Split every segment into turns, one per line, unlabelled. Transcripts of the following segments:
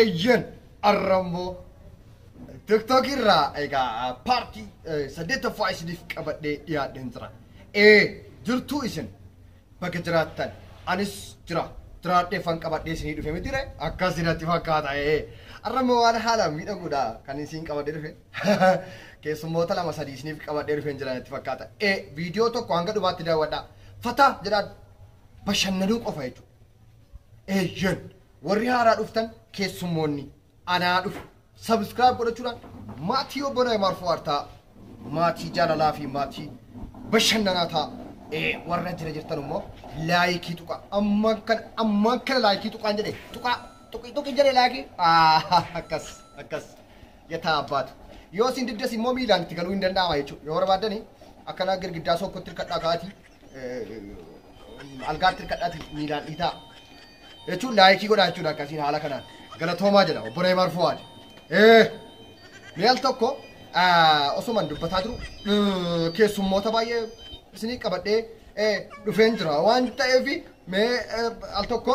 Eeyyen arra immoo TikTok irraa egaa paartii saddeettaffaa isiniif qabadhee dhiyaadheen jira. Ee jirtuu isin bakka jiraattan anis jira jiraadheeffan qabadhee isinii dhufe miti ree akkas natti fakkaata ee arra immoo waan haalaan miidhaguudha kan isin qabadhee dhufe keessummoota lama sadii isiniif qabadhee dhufeen jira natti fakkaata ee viidiyoo tokko hanga dhumaatti daawwadhaa fataa jedhaa bashannanuu qofa jechuudha. Eeyyen! Warri haaraa dhuftan keessummoonni anaa dhufu subscribe godhachuudhaan maatii obbo Naymaar Fuwaar ta'a. Maatii jaalalaa fi maatii bashannanaa ta'a. Ee warra jira jirtan immoo laayikii tuqa. Ammaan kana ammaan kana laayikii tuqaan jedhe tuqaa tuqi tuqi jedhe laayikii. Ah, Akkas akkas yataa abbaatu. Yoo isin diddas immoo miilaan itti galuu hin danda'ama jechuudha. Yoo barbaaddani akkana girgiddaa sookkootti hirkadhaa ka'aatii algaatti hirkadhaati miilaan dhiitaa jechuun laayikii godhaa jechuudha akkasiin haala kanaan galatoomaa jedha obbo Reebaar Fuwaad. Mee al tokko osuman dubbataa jiru keessummoota baay'ee isinii qabadhee dhufeen jira waan ta'eef mee al tokko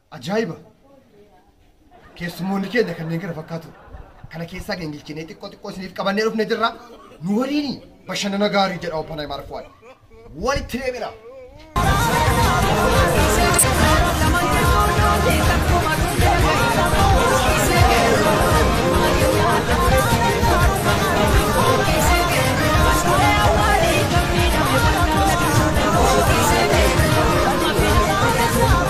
Ajaa'iba! Keessummoonni keenya kanneen kana fakkaatu. Kana keessaa gingilchinee xiqqoo xiqqoo isiniif qabannee dhufne jirra. Nu waliini bashannana gaarii jedha Oppanaa Maarkuwaan. Walitti deebina!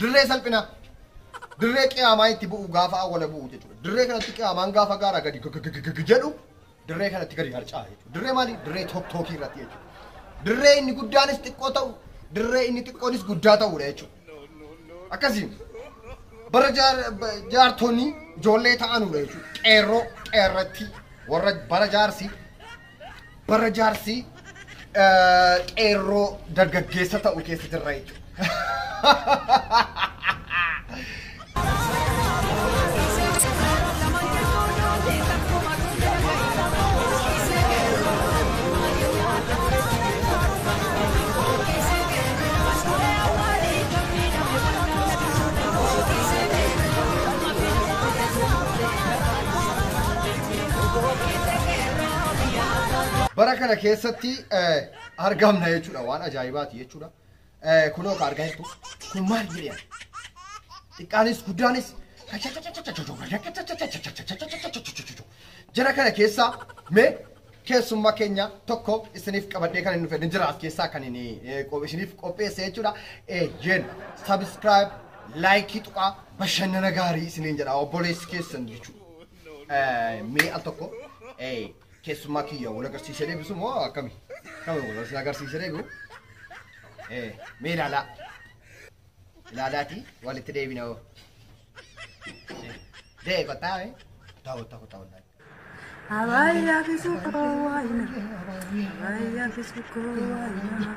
Dirree salphinaa. Dirree qiyaamaa itti bu'u gaafa awwala bu'u jechuudha. Dirree kanatti qiyaamaan gaafa gaara gadi gagagagag jedhu dirree kanatti gadi harca'a jechuudha. Dirree maali? Dirree tokkookii irratti jechuudha. Dirree inni guddaanis xiqqoo ta'u, dirree inni xiqqoonis guddaa ta'uudha jechuudha. Akkasiin bara jaar- ba- jaartonni ijoollee ta'anuudha jechuudha. Qeerroo qeerratti warra bara jaarsi Bara jaarsi qeerroo dargaggeessa ta'u keessa jirra jechuudha. Bara kana keessatti argamna jechuudha waan ajaa'ibaati jechuudha. Kunoo ka argaa jirtu kun maal jedhama? Xiqqaanis guddaanis jara kana keessaa mee keessummaa keenya tokko isiniif qabadhee kan hin dhufne jira as keessaa kan hin isiniif qopheesse jechuudha. Eeyyeen sabiskiraayib laayikii tuqaa bashannana gaarii isiniin jedha obboleessi keessan jechuudha. mee al tokko keessummaa kiyya wal agarsiisee deebisu moo akkami? Akkami wal agarsiisee agarsiisee deebi'u? Mee ilaalaa. Ilaalaati walitti deebina hoo. Dee kottaa mee? Kottaa kottaa kottaa kottaa.
Abaya fisuko waina, abaya fisuko waina,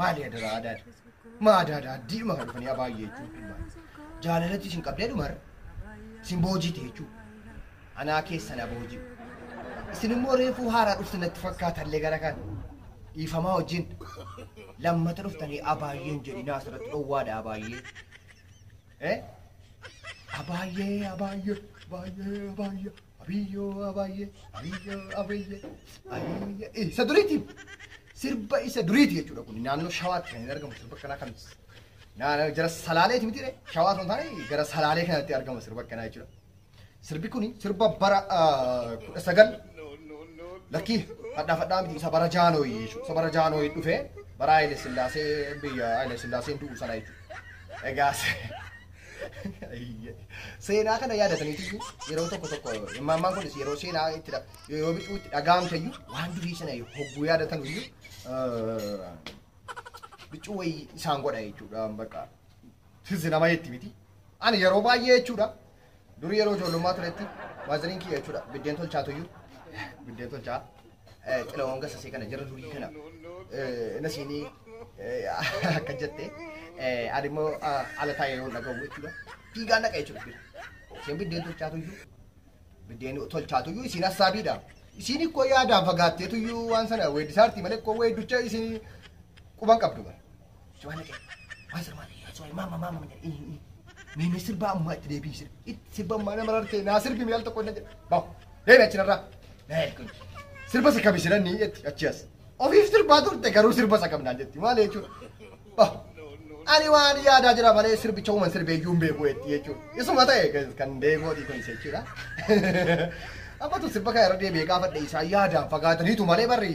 Maali adaraa adaadha? Maa adaadha addiidhuma kan dhufanii abaayyee jechuun dhimmaa. Jaalalatti isin qabdee dhumarra. Isin boojiite jechuudha. Anaa keessa na booji'u. Isin immoo reefuu haaraa dhuftan natti fakkaatallee gara kan. Dhiifamaa wajjin lammata dhuftanii abaayyeen jedhinaa asirratti dhowwaadha abaayyee. Eh? Abaayyee abaayyee abaayyee abaayyee. Abiyyo abayye abiyyo abayye abiyye eh, isa duriiti sirba isa duriiti jechuudha kun naannoo shawaatti kan hin argamu sirba kanaa kan naannoo jara salaaleeti miti re shawaa sun taane gara salaalee kanatti argama sirba kanaa jechuudha sirbi kun sirba bara ah, kudha sagal lakkii fadhaa fadhaa miti isa bara jaanooyi jechuudha isa bara jaanooyi dhufee bara Haile Sillaasee biyya Haile Sillaaseen du'u sana jechuudha egaas Seenaa kana yaadataniitu yeroo tokko tokko immaammaan kunis yeroo seenaa itti dha- yeroo bituu itti dhaga'amte iyyuu waan durii sana hogguu yaadatan iyyuu eh, bichuu wayii isaan godha jechuudha bakka tizzi nama jetti miti. Ani yeroo baay'ee jechuudha durii yeroo ijoollummaa turetti waaziriin kiyya jechuudha biddeen tolchaatu iyyuu biddeen tolchaa Xilawaan gasa see kana jara durii kana na siinii akka jette ani immoo ala taa'ee yeroo dhagahu jechuudha. Fiigaa naqa jechuudha bira. Isheen biddeen tolchaatu iyyuu biddeen tolchaatu iyyuu isiin hassaabiidha. Isiin ikkoo yaadaan fagaatteetu iyyuu waan sana weeddisaarti malee ikkoo weedducha isiin quban qabdu bara. Suwana kee. Waa sirmaa ta'e. Suwana maama maama mata. Mee mee sirbaa ammaa itti deebii sirbi. Itti sirba ammaa nama rartee naa sirbi mee al tokko na jedha. Baw. Deebi achi narraa. Naa kun. Sirba isa kami siran ni jetti achi as. Ofiif sirbaa turte garuu sirba isa kam naan jetti maal jechuudha. Baw. Ani waan yaadaa jira malee sirbicha uuman sirbee iyyuu hin beeku jetti jechuudha. Isuma ta'e kan deegooti kun isa jechuudha. Abbatu sirba kana irra deebi'ee gaafadhe isaa yaadaan fagaataniitu malee barri.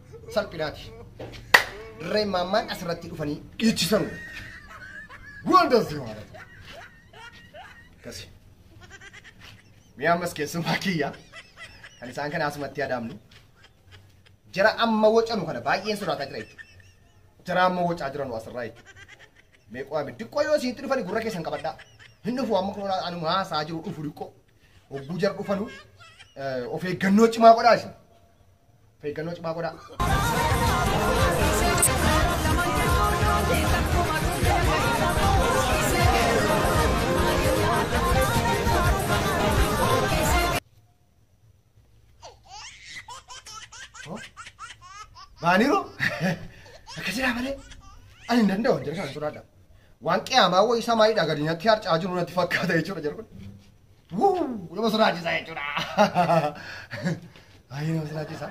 salphinaati. Dirreen maammaan asirratti dhufanii dhiichisan. Wonders yoo haadhatu. Akkasi. Mi'a ammas keessumaa kiyya. Kan isaan kana asumatti adaamnu. Jara amma wocanu kana baay'een sodaataa jira jechuudha. Jara amma wocaa jiranu asirraa jechuudha. Meeqoo ame diqqoo yoo isinitti dhufani gurra keessan qabadhaa. Hin dhufu amma kun anuma haasaa jiru dhufu diqqoo. Hogguu jara dhufanu of eeggannoo cimaa godhaa isin. Of eeggannoo cimaa godhaa. Baaniru akka jiraa malee ani hin danda'u jedhe kana sodaadha. Waan qiyaamaa wayii isaa maayidha gadi natti harcaa jiru natti fakkaata jechuudha jedhu kun. Wuu! Nama sodaachisa jechuudha. Baay'ee nama sodaachisa.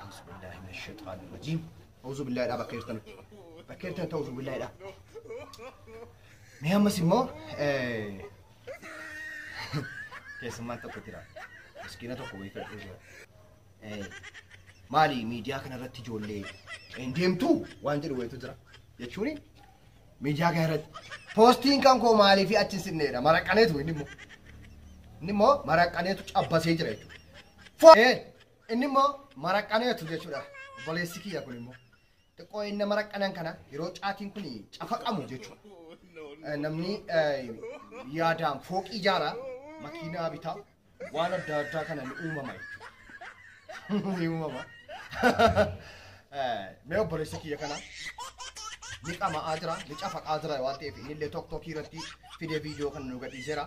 Auzu billaahi min shayxaani rajiim. Auzu billaahidha bakka jirtan. Bakka jirtan ta'uuzu billaahidha. Mee ammas immoo keessummaan tokko jira. Miskiina tokko wayii fedhuu jira. Maali miidiyaa kanarratti ijoollee hin deemtu waan jedhu wayitu jira. Jechuun Miidiyaa kee irratti poostiin kan koo maalii fi achi hin sinneedha maraqqaneetu inni immoo inni immoo maraqqaneetu cabbasee jira jechuudha. Fo- ee, Inni immoo maraqqaneetu jechuudha obboleessi kiyya kun immoo xiqqoo inni maraqqanan kana yeroo caatiin kun cafaqamu jechuudha. Eh, Namni eh, yaadaan fooqii ijaara makiinaa bitaa waan adda addaa kana ni uumama jechuudha. Ni uumama. Mee obboleessi kiyya kana ni qama'aa jira, ni cafaqaa jira waan ta'eef inni illee tokko tokko irratti fidee viidiyoo kana nu gadhiiseera.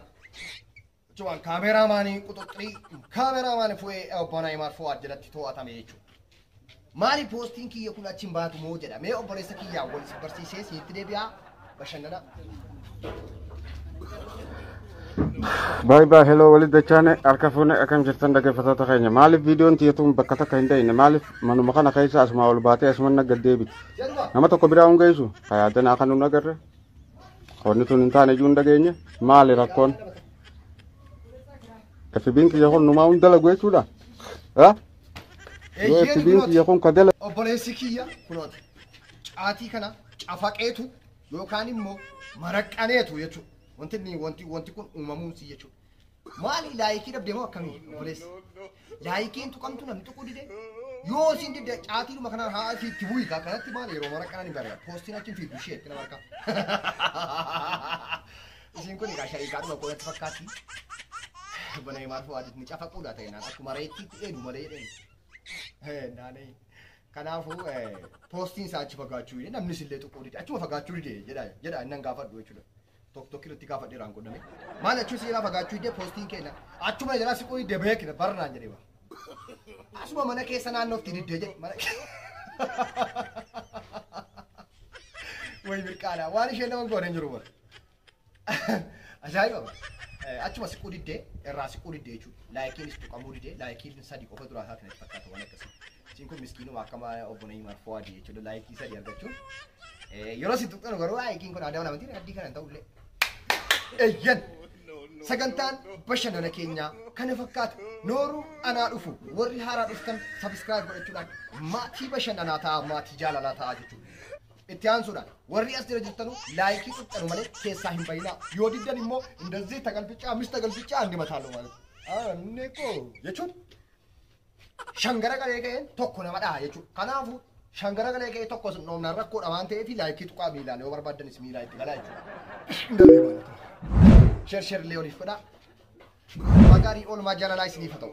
Jechuun kaameraamaanii quxuxxirii kaameraamaanii fu'ee obbo Naayimaar Fuwaad jalatti to'atame jechuudha. Maali poostiin kiyya kun achi hin baatu moo jedha. Mee obboleessa kiyyaan wal si barsiisee siitti deebi'aa bashannana.
Baay baay heloo walitti dachaane harka fuune akkam jirtan dhaggeeffattoota keenya maaliif viidiyoon tiyatuun bakka takka hin da'ine maaliif manuma kana keessa asumaa ol baatee asuman nagga deebiti Jedhuma. nama tokko biraa hin geessu hayaadan akka nun agarre qonni tun hin taane iyyuu hin dhageenye maali rakkoon FB'n kiyya kun numaa hundala gochuudha. Yoo itti biin kiyya kun ka dala. Obboleessi kiyya
kunoota caatii kana cafaqeetu yookaan immoo maraqqaneetu jechuudha. Wanti inni wanti wanti kun uumamuun si jechuudha. Maali laayikii dhabdee moo akkamii obboleessi? Laayikiin tuqamtu namni tuquu dide yoo isin didde caatiidhuma kanaan haa isin itti bu'ii kaa kanatti maali yeroo maraqqanan hin barreera. Poostiin achi hin fiigdu ishee itti nama harkaa. Isiin kun egaa shariikaadhuma koo natti fakkaatti. Bana himaar fu'aadis ni cafaquudha ta'e naan akkuma reettiitti eenu malee jedheen. Naanee. Kanaafuu poostiin isaa achi fagaachuu hidhe namnis illee tuquu dide achuma fagaachuu dide jedha jedha innan gaafadhu jechuudha. Tokko tokko irratti gaafadhe irraan godhame. Maal achuu siilaa fagaachuu hidde poostiin keenya achuma jalaa siquu hidde beekna barnaan jedhee bara. Asuma mana keessa naannootti didde jedhe mana keessa. Way birqaadha waan isheen nama goone hin jiru bara. Ajaa'iba! Eh, Achuma siquu diddee irraa siquu diddee jechuudha. Laayikiin si tuqamuu didee laayikiin sadii qofa duraa isaa kanatti fakkaata waan akkasii. Isiin kun miskiinuma akkama obbo Nayimaar Fowaadii jechuudha laayikii sadii argachuun. Eh, Yeroo si tuqxanu garuu laayikiin kun aadaa namaa miti addii kana hin ta'ullee. Eyyan! Sagantaan bashannana keenyaa kana fakkaata. Nooruu anaa dhufu warri haaraa dhuftan sabiskiraayib godhachuudhaan maatii bashannanaa ta'aa maatii jaalalaa ta'aa jechuudha. Itti aansuudhaan warri as jala jirtanu laayikii xuqxanu malee keessaa hin bayinaa. Yoo diddan immoo indazii tagalbichaa mis tagalbichaa andi mataaloo maal. Anni koo jechuun shangara galee ga'een tokko nama dhaha jechuudha. Kanaafuu shangara galee ga'ee tokko sin dhoofnaan rakkoodha waan ta'eef laayikii tuqaa miilaan yoo barbaaddanis miilaa itti galaa jechuudha. Indazii maal ta'u. Sheer sheer illee oliif godhaa. Magaarii oolmaa jaalalaa isiniif haa ta'u.